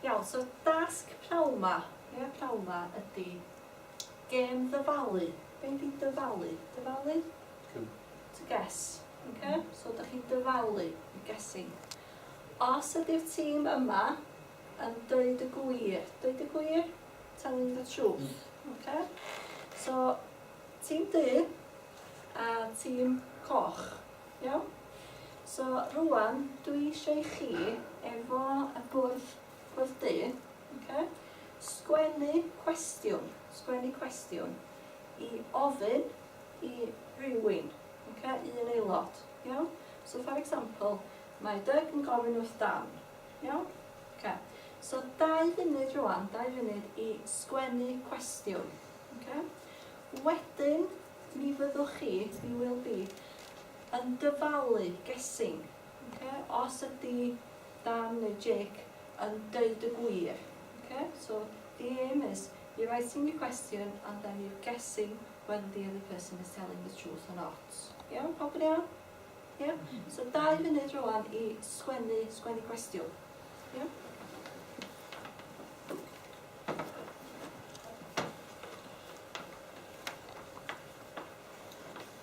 Iawn, so dasg pnawn 'ma, ia, pnawn 'ma ydi gêm ddyfalu. Be' ydi dyfalu? Dyfalu? Cŵl. To guess. Oce? So dych chi'n dyfalu, you're guessing. Os ydi'r tîm yma yn deud y gwir, deud y gwir? Telling the truth. Oce? So, tîm du a tîm coch. Iawn? So rŵan dwi eisiau i chi, efo y bwrdd, bwrdd du, okay, sgwennu cwestiwn, sgwennu cwestiwn i ofyn i rywun, okay, i un aelod, iawn? So for example, mae Doug yn gofyn wrth Dan, iawn? Okay. So dau funud rwan, dau funud i sgwennu cwestiwn, okay? Wedyn, mi fyddwch chi, you will be, yn dyfalu guessing ok os ydi Dan neu Jake yn deud y gwir ok so the aim is you're writing your question and then you're guessing whether the other person is telling the truth or not iawn pawb yn iawn iawn so dau funud rwan i sgwennu sgwennu cwestiwn iawn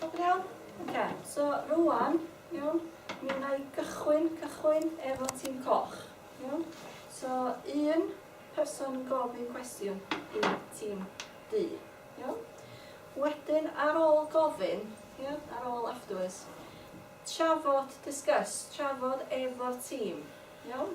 Pobl iawn? Ok, so rwan, iawn, mi wna i gychwyn, cychwyn efo tîm coch, iawn? So, un person yn gofyn cwestiwn i tîm du, iawn? Wedyn, ar ôl gofyn, iawn, ar ôl afterwards, trafod, discuss, trafod efo'r tîm, iawn?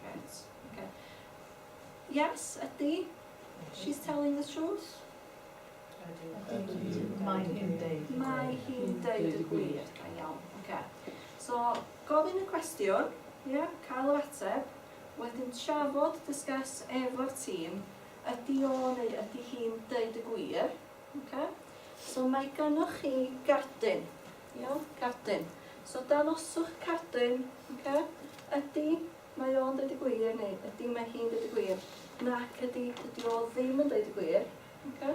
Grêt, oce. Yes, ydy. She's telling the truth. Ydy. Ydy. Mae hi'n deud y gwir. Mae hi'n deud y gwir. Da iawn, oce. So, gofyn y cwestiwn, ia, cael yr ateb, wedyn trafod, discuss, efo'r tîm, ydy o neu ydy hi'n deud y gwir, oce. So, mae gennych chi gadyn. Iawn, cardyn. So dangoswch cardyn, oce? Ydy, mae o'n deud y gwir, neu ydy, mae hi'n deud y gwir. Nac ydy, dydy o ddim yn deud y gwir, oce?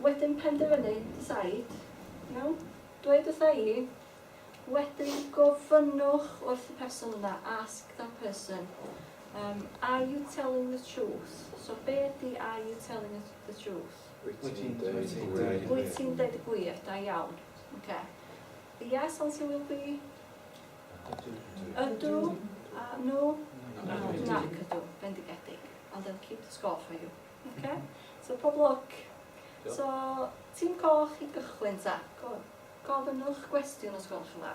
Wedyn penderfynu, decide, iawn? Dweud wrtha i, wedyn gofynnwch wrth y person yna, ask that person, um, are you telling the truth? So be ydy are you telling the truth? Wyt ti'n dweud y gwir. Wyt ti'n dweud y gwir, da iawn. Oce. Yes, answer will be? Ydw. Ydw. A no? Nac. Nac ydw. Bendigedig. And they'll keep the score for you. Oce? So pob lwc. So, tîm coch i gychwyn ta. Go on. Gofynnwch gwestiwn os gwelwch yn dda.